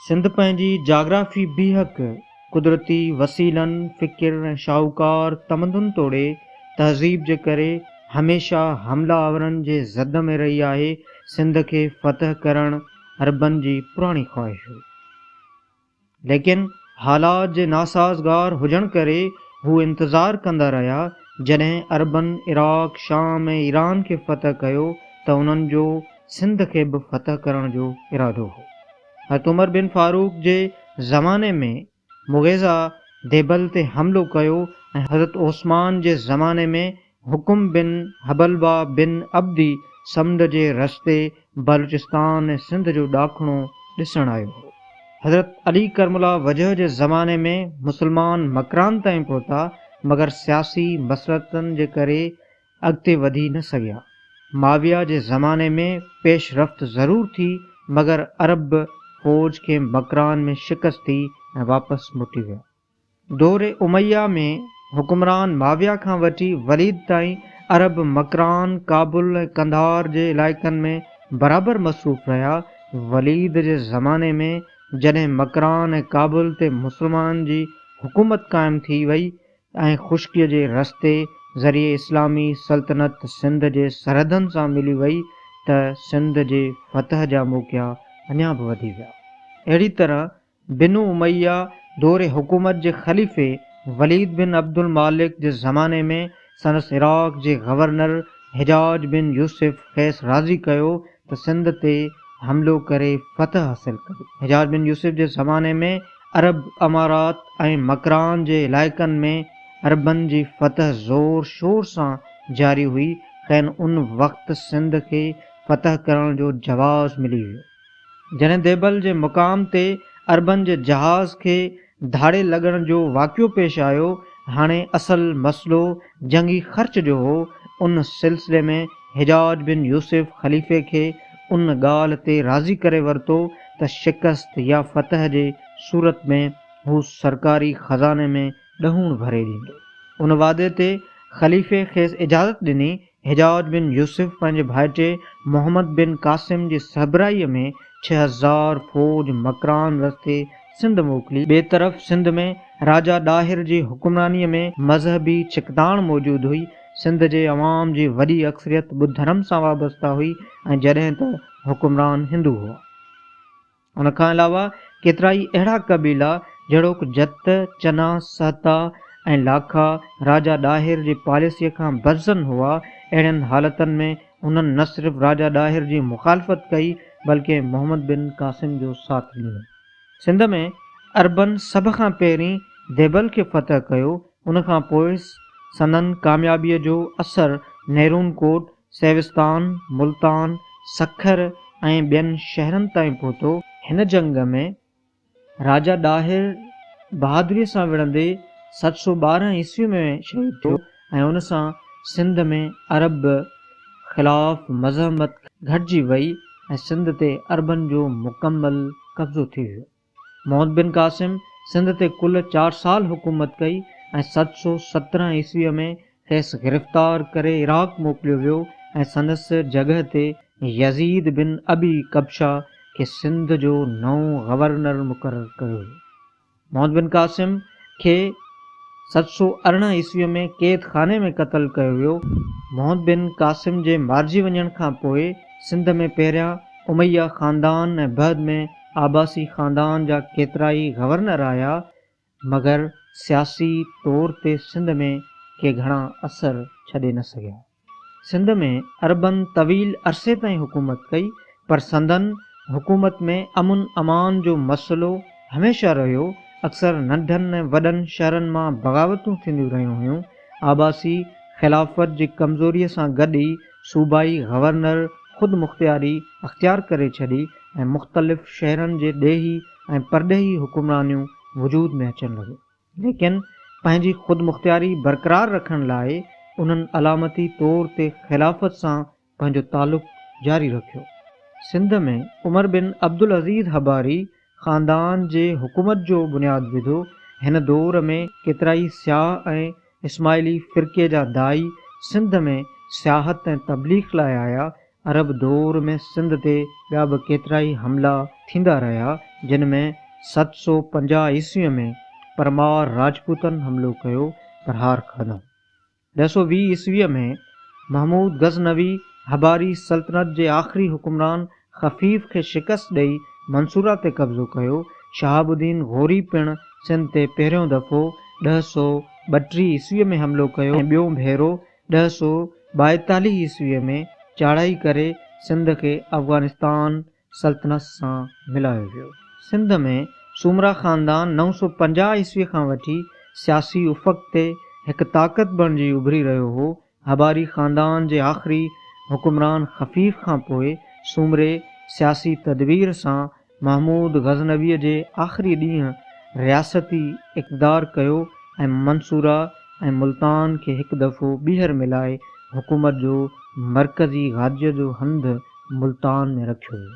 سنڌ پنهنجي جاگرافي بيهڪ قدرتي وسيلن، فڪر ۽ شاهوڪار تمدن توڙي تهذيب جي ڪري هميشه حمله آورن جي زد ۾ رهي آهي. سنڌ کي فتح ڪرڻ عربن جي پراڻي خواهش هئي. ليڪن حالات جي ناسازگار هجڻ ڪري هو انتظار ڪندا رهيا، جڏهن عربن عراق، شام ۽ ايران کي فتح ڪيو ته انهن جو سنڌ کي به فتح ڪرڻ جو ارادو هو. حضرت عمر بن فاروق جي زماني ۾ مغيظه ديبل تي حملو ڪيو ۽ حضرت عثمان جي زماني ۾ حڪم بن حبلبه بن عبدي سمنڊ جي رستي بلوچستان ۽ سنڌ جو ڏاکڻو ڏسڻ آيو هو. حضرت علي ڪرم الله وجهه جي زماني ۾ مسلمان مڪران تائين پهتا مگر سياسي مصلحتن جي ڪري اڳتي وڌي نه سگهيا. معاويه جي زماني ۾ پيش رفت ضرور ٿي مگر عرب فوج کي مڪران ۾ شڪست ٿي ۽ واپس موٽي ويا. دور اميه ۾ حڪمران معاويه کان وٺي وليد تائين عرب مڪران، ڪابل ۽ قنڌار جي علائقن ۾ برابر مصروف رهيا. وليد جي زماني ۾ جڏهن مڪران ۽ ڪابل تي مسلمانن جي حڪومت قائم ٿي وئي ۽ خشڪيء جي رستي ذريعي اسلامي سلطنت سنڌ جي سرحدن سان ملي وئي ته سنڌ جي فتح جا موقعا اڃا به وڌي ويا. اهڙي طرح بنو اميه دور حڪومت جي خليفي وليد بن عبدالمالڪ جي زماني ۾ سندس عراق جي گورنر حجاج بن يوسف کيس راضي ڪيو ته سنڌ تي حملو ڪري فتح حاصل ڪري. حجاج بن يوسف جي زماني ۾ عرب امارات ۽ مڪران جي علائقن ۾ عربن جي فتح زور شور سان جاري هئي، کين ان وقت سنڌ کي فتح ڪرڻ جو جواز ملي ويو. جڏهن ديبل جي مقام تي عربن جي جهاز کي ڌاڙيل لڳڻ جو واقعو پيش آيو، هاڻي اصل مسئلو جنگي خرچ جو هو، ان سلسلي ۾ حجاج بن يوسف خليفي کي ان ڳالهه تي راضي ڪري ورتو ته شڪست يا فتح جي صورت ۾ هو سرڪاري خزاني ۾ ڏهوڻ ڀري ڏيندو. ان وعدي تي خليفي کيس اجازت ڏني حجاج بن يوسف پنهنجي ڀائٽي محمد بن قاسم جي سهبرائيء ۾ ڇهه هزار فوج مڪران رستي سنڌ موڪلي. ٻئي طرف سنڌ ۾ راجا ڏاهر جي حڪمرانيء ۾ مذهبي ڇڪتاڻ موجود هئي. سنڌ جي عوام جي وڏي اڪثريت ٻڌ ڌرم سان وابسته هئي ۽ جڏهن ته حڪمران هندو هئا. ان کان علاوه ڪيترائي اهڙا قبيلا جهڙوڪ، جت، چنا، سهتا ۽ لاکا راجا ڏاهر جي پاليسيء کان برزن هئا. اهڙين حالتن ۾ هنن نه صرف راجا ڏاهر جي مخالفت ڪئي، بلڪه محمد بن قاسم جو ساٿ ڏنو. سنڌ ۾ عربن سڀ کان پهرين ديبل کي فتح ڪيو. ان کان پوء سندن ڪاميابيء جو اثر نيرون ڪوٽ، سيوستان، ملتان، سکر ۽ ٻين شهرن تائين پهتو. هن جنگ ۾ راجا ڏاهر بهادريء سان وڙهندي ست سؤ ٻارهن عيسويء ۾ شهيد ٿيو ۽ ان سان سنڌ ۾ عرب خلاف مزاحمت گهٽجي وئي ۽ سنڌ تي عربن جو مڪمل قبضو ٿي ويو. محمد بن قاسم سنڌ تي ڪل چار سال حڪومت ڪئي ۽ ست سؤ سترهن عيسويء ۾ کيس گرفتار ڪري عراق موڪليو ويو ۽ سندس جڳهه تي يزيد بن ابي ڪبشه کي سنڌ جو نئون گورنر مقرر ڪيو ويو. محمد بن قاسم کي ست سؤ ارڙهن عيسويء ۾ قيد خاني ۾ قتل ڪيو ويو. محمد بن قاسم جي مارجي وڃڻ کان پوء سنڌ ۾ پهريان اميه خاندان ۽ بعد ۾ عباسي خاندان جا ڪيترائي گورنر آيا، مگر سياسي طور تي سنڌ ۾ ڪي گهڻا اثر ڇڏي نه سگهيا. سنڌ ۾ عربن طويل عرصي تائين حڪومت ڪئي، پر سندن حڪومت ۾ امن امان جو مسئلو هميشه رهيو، اڪثر ننڍن ۽ وڏن شهرن مان بغاوتون ٿينديون رهيون هيون. عباسي خلافت جي ڪمزوريء سان گڏ ئي صوبائي گورنر خود مختياري اختيار ڪري ڇڏي ۽ مختلف شهرن جي ڏيهي ۽ پرڏيهي حڪمرانيون وجود ۾ اچڻ لڳيون. ليڪن پنهنجي خود مختياري برقرار رکڻ لاء انهن علامتي طور تي خلافت سان پنهنجو تعلق جاري رکيو. سنڌ ۾ عمر بن عبدالعزيز حباري خاندان جي حڪومت جو بنياد وڌو. هن دور ۾ ڪيترائي سياح ۽ اسماعيلي فرقي جا داعي سنڌ ۾ سياحت ۽ تبليغ لاء آيا. عرب دور ۾ سنڌ تي ٻيا به ڪيترائي حملا ٿيندا رهيا، جن ۾ ست سؤ پنجاهه عيسويء ۾ پرمار راجپوتن حملو ڪيو پر هار کاڌائون. ڏهه سؤ ويهه عيسويء ۾ محمود غزنوي هباري سلطنت جي آخري حڪمران خفيف کي شڪست ڏئي منصوره تي قبضو ڪيو. شهاب الدين غوري پڻ سنڌ تي پهريون دفعو ڏهه سؤ ٻٽيهه عيسويء ۾ حملو ڪيو ۽ ٻيون ڀيرو ڏهه سؤ ٻائيتاليهه عيسويء ۾ چاڙهائي ڪري سنڌ کي افغانستان سلطنت سان ملايو ويو. سنڌ ۾ سومرا خاندان نو سؤ پنجاهه عيسوي کان وٺي سياسي افق تي هڪ طاقت بڻجي اڀري رهيو هو. هباري خاندان جي آخري حڪمران خفيف کان پوء سومري سياسي تدبير سان محمود غزنويء جي آخري ڏينهن رياستي اقتدار ڪيو ۽ منصوره ۽ ملتان کي هڪ دفعو ٻيهر ملائي حڪومت جو مرڪزي گاديء جو هنڌ ملتان ۾ رکيو ويو.